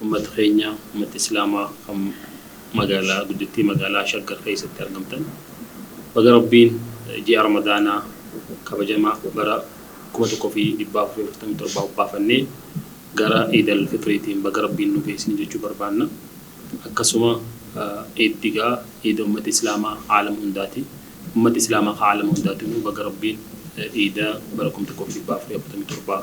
Ummata keenya, ummata Islaamaa kan magaalaa guddittii magaalaa Shaggar keessatti argamtan baga Rabbiin ji'a Ramadaanaa kabajamaa bara 1447 hobbaafannee gara Iidal Fitriitiin baga Rabbiin nu gahe isiniin jechuu barbaanna. Akkasuma Iiddi gaa Iida ummata Islaamaa aalama hundaati. Ummata Islaamaa ka aalama hundaatinuu baga Rabbiin Iida bara 1447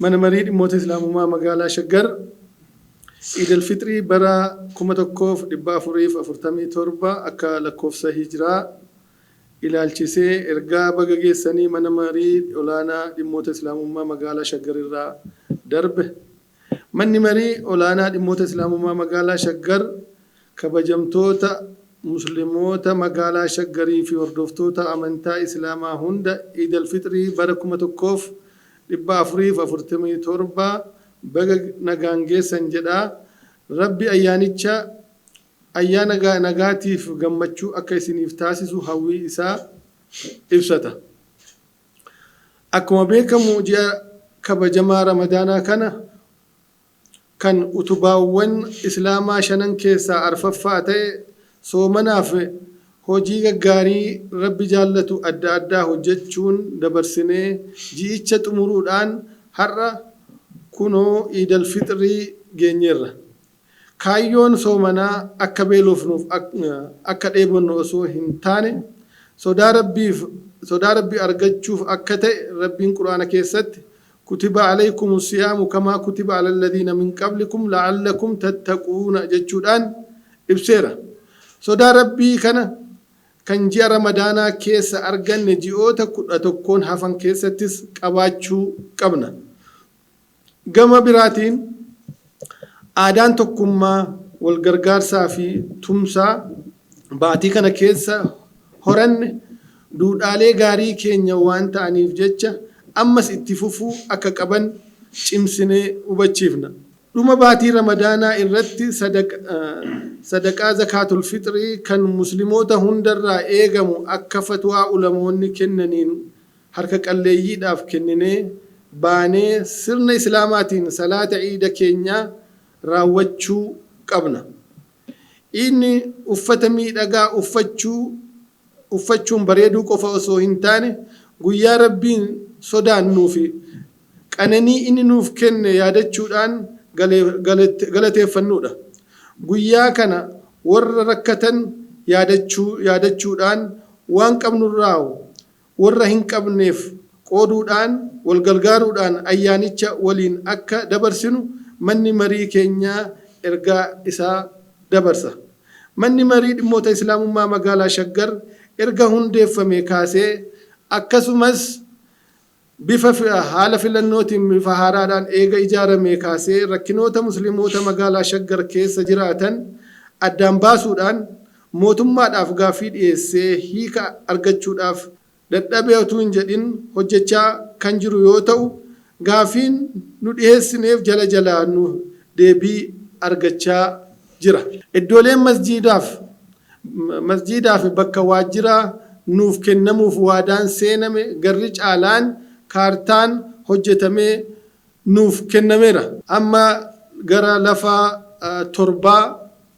Mana Marii Dhimmoota Islaamumaa Magaalaa Shaggar Iid Al Fixrii bara 1447 akka lakkoofsa Hijraa ilaalchisee ergaa baga geessanii Mana Marii Olaanaa Dhimmoota Islaamummaa Magaalaa Shaggar irraa darbe. Manni Marii Olaanaa Dhimmoota Islaamummaa Magaalaa Shaggar kabajamtoota Muslimoota Magaalaa Shaggarii fi hordoftoota amantaa Islaamaa hunda Iid Alfixrii bara 1447 baga nagaan geessan jedha. Rabbi ayyaanicha ayyaana nagaatiif gammachuu akka isiniif taasisu hawwii isaa ibsata. Akkuma beekamu ji'a kabajamaa Ramadaanaa kana kan utubaawwan Islaamaa shanan keessaa arfaffaa ta'e soomanaaf hojii gaggaarii Rabbi jaallatu adda addaa hojjachuun dabarsinee ji'icha xumuruudhaan har'a kunoo Iidal Fixrii geenyeerra. Kaayyoon soomanaa akka beelofnuuf akka dheebonnu osoo hin taane sodaa Rabbiif sodaa Rabbi argachuuf akka ta'e Rabbiin Qur'aana keessatti Kutiba alaykumu siyaamu kamaa kutiba alalladhiina min qablikum la'allakum tattaquuna jechuudhaan ibseera. Sodaa Rabbii kana kan ji'a Ramadaanaa keessa arganne ji'oota 11n hafan keessattis qabaachuu qabna. Gama biraatiin, aadaan tokkummaa, walgargaarsaa fi tumsaa baatii kana keessa horanne duudhaalee gaarii keenya waan ta'aniif jecha ammas itti fufuu akka qaban cimsinee hubachiifna. Dhuma baatii Ramadaanaa irratti sadaqaa Zakaatul Fixrii kan Muslimoota hundarraa eegamu akka fatwaa ulamoonni kennaniin harka qalleeyyiidhaaf kenninee baanee sirna Islaamaatiin salaata Iida keenyaa raawwachuu qabna. Iidni uffata miidhagaa uffachuu uffachuun bareeduu qofa osoo hin taane guyyaa Rabbiin sodaannuu fi qananii inni nuuf kenne yaadachuudhaan galateeffannuudha. Guyyaa kana warra rakkatan yaadachuu yaadachuudhaan waan qabnurraa warra hin qabneef qooduudhaan wal gargaaruudhaan ayyaanicha waliin akka dabarsinu manni marii keenya ergaa isaa dabarsa. Manni Marii Dhimmoota Islaamummaa Magaalaa Shaggar erga hundeeffamee kaasee akkasumas bifa haala filannootiin bifa haaraadhaan eega ijaaramee kaasee rakkinoota Muslimoota Magaalaa Shaggar keessa jiraatan addaan baasuudhaan mootummaadhaaf gaaffii dhiyeessee hiika argachuudhaaf dadhabee otuu hin jedhin hojjechaa kan jiru yoo ta'u, gaaffiin nu dhiheessineef jala jalaa nu deebii argachaa jira. Iddooleen masjiidaaf masjiidaafi bakka waajjiraa nuuf kennamuuf waadaan seename garri caalaan kaartaan hojjetamee nuuf kennameera. Amma gara lafa torbaa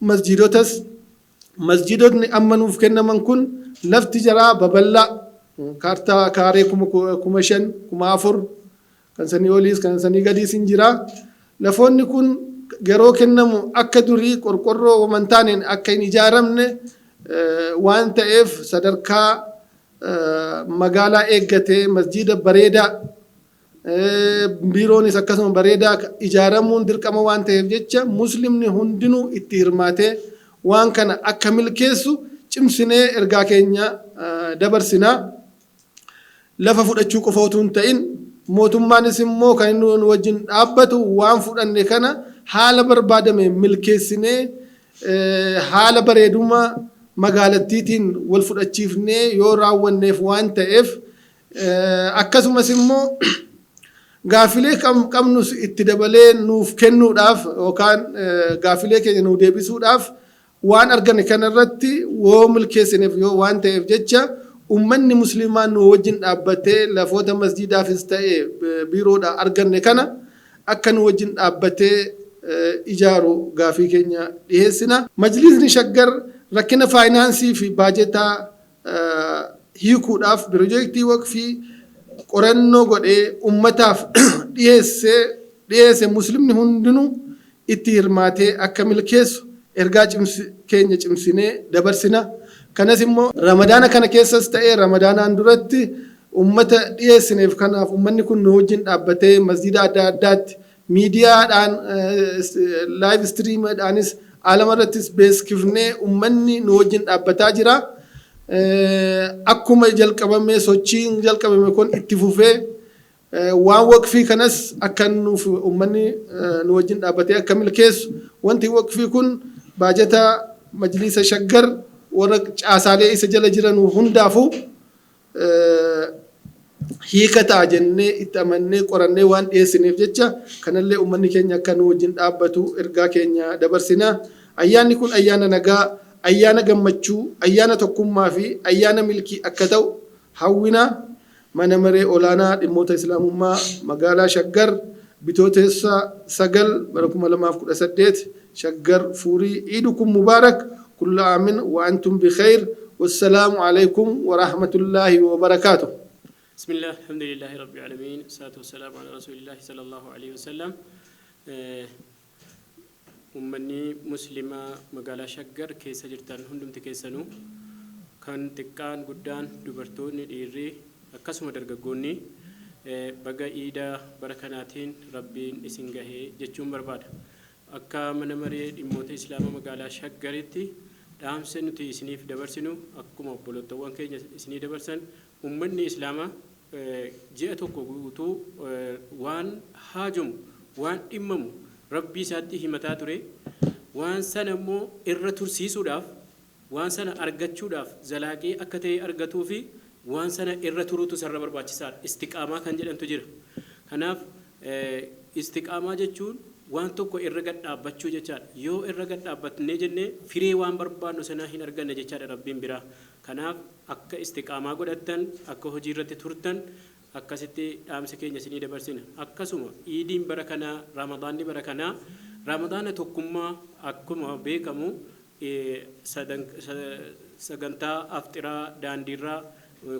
Masjiidotas, Masjiidotni amma nuuf kennaman kun lafti jaraa baballaa kaartaa kaaree kuma 5,000, 4,000 kan sanii oliis kan sanii gadiis hin jira. Lafoonni kun yeroo kennamu akka durii qorqorroo waman taaneen akka hin ijaaramne waan ta'eef sadarkaa magaalaa eeggatee masjiida bareedaa Biiroonis akkasuma bareedaa ijaaramuun dirqama waan ta'eef jecha Muslimni hundinuu itti hirmaatee waan kana akka milkeessu cimsinee ergaa keenya dabarsina. Lafa fudhachuu qofa utuu hin ta'in mootummaanis immoo kan inni nu wajjin dhaabbatu waan fudhanne kana haala barbaadameen milkeessinee haala bareeduma magaalattiitiin wal fudhachiifnee yoo raawwanneef waan ta'eef Akkasumas immoo gaaffilee qabnus itti dabalee nuuf kennuudhaaf yookaan gaaffilee keenya nuu deebisuudhaaf waan argame kana irratti woo milkeessineef yoo waan ta'eef jecha ummanni musliimaa nuu wajjin dhaabbatee lafoota masjiidaafis ta'e biiroodhaa arganne kana akka nuu wajjin dhaabbatee ijaaru gaafii keenya dhiheessina. Majliisni Shaggar rakkina faayinaansii fi baajetaa hiikuudhaaf pirojeektii waqfii qorannoo godhee ummataaf dhiyeessee dhiyeesse muslimni hundinuu itti hirmaatee akka milkeessu ergaa cimsi keenya cimsinee dabarsina kanas immoo ramadaana kana keessas ta'ee ramadaanaan duratti ummata dhiyeessineef kanaaf ummanni kun nu wajjin dhaabbatee masjiida adda addaatti Miidiyaadhaan live stream dhaanis aalama irrattis beeskifnee ummanni nu wajjin dhaabbataa jira. Akkuma jalqabamee sochiin jalqabame kun itti fufee waan waqfii kanas akka nuuf ummanni nu wajjin dhaabbatee akka milkeessu wanti waqfii kun baajata majliisa shaggar warra caasaalee isa jala jiranu hundaafuu hiika ta'a jennee itti amannee qorannee waan dhiyeessineef jecha kanallee ummanni keenya akka nu wajjin dhaabbatu ergaa keenya dabarsina. Ayyaanni kun ayyaana nagaa, ayyaana gammachuu, ayyaana tokkummaa fi ayyaana milkii akka ta'u hawwina. Mana Maree Olaanaa Dhimmoota Islaamummaa Magaalaa Shaggar Bitooteessa 9 bara 2018 Shaggar furii iidukum mubarak kulla amin wa antum bikeyr wassalaamu aleykum warahmatullahi wabarakatuh. Bismillah Alhamdulillahi Rabbi Alamiin Wassalatu Wassalamu Ala Rasulillahi Sallallahu Aleyhi Wasallam Ummanni Muslima Magaalaa Shaggar keessa jirtan hundumti keessanuu kan xiqqaan guddaan dubartoonni dhiirri akkasuma dargaggoonni baga iida bara kanaatiin Rabbiin isin gahe jechuun barbaada. Akka Mana Maree Dhimmoota Islaama Magaalaa Shaggaritti dhaamsa nuti isiniif dabarsinu akkuma obbolottawwan keenya isinii dabarsan ummanni Islaama ji'a tokko guutuu waan haajomu, waan dhimmamu Rabbii isaatti himataa ture. Waan sana immoo irra tursiisuudhaaf Waan sana argachuudhaaf zalaaqii akka ta'e argatuu fi waan sana irra turuutu isarra barbaachisaadha. Istiqaamaa kan jedhantu jira. Kanaaf Istiqaamaa jechuun waan tokko irra gad dhaabbachuu jechaadha. Yoo irra gad dhaabbatnee jenne firii waan barbaannu sanaa hin arganna jechaadha Rabbiin biraa. Kanaaf akka Istiqaamaa godhattan, akka hojii irratti turtan akkasitti dhaamsa keenya isinii dabarsina. Akkasuma Iidiin bara kanaa, Ramadaanni bara kanaa Ramadaana tokkummaa akkuma beekamu e Sagantaa Afxiraa daandiirraa,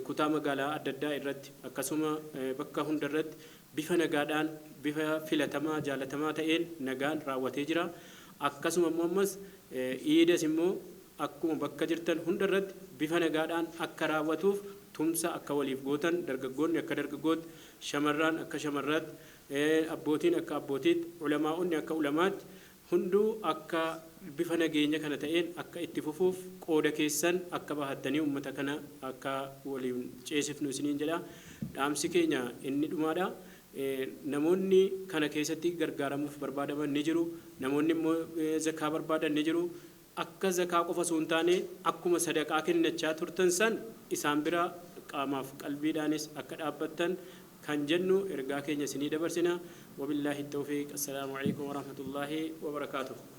kutaa magaalaa adda addaa irratti akkasuma bakka hunda irratti bifa nagaadhaan, bifa filatamaa, jaalatamaa ta'een nagaan raawwatee jira. Akkasuma immoo ammas Iidas immoo akkuma bakka jirtan hunda irratti bifa nagaadhaan akka raawwatuuf tumsa akka waliif gootan, dargaggoonni akka dargaggootti, shamarraan akka shamarraatti, abbootiin akka abbootiitti, ulamaa'onni akka ulamaatti Hunduu akka bifa nageenya kana ta'een akka itti fufuuf qooda keessan akka bahattanii ummata kana akka waliin ceesifnu isiniin jedha. Dhaamsi keenya inni dhumaadha. Namoonni kana keessatti gargaaramuuf barbaadaman ni jiru. Namoonni immoo zakkaa barbaadan ni jiru. akka zakaa qofa osoo hin taane akkuma sadaqaa kennachaa turtan san isaan bira qaamaaf qalbiidhaanis akka dhaabbattan kan jennu ergaa keenya isinii dabarsina. Wabillaahi tawfiiq. Assalaamu aleykum warahmatullaahi wabarakaatuh.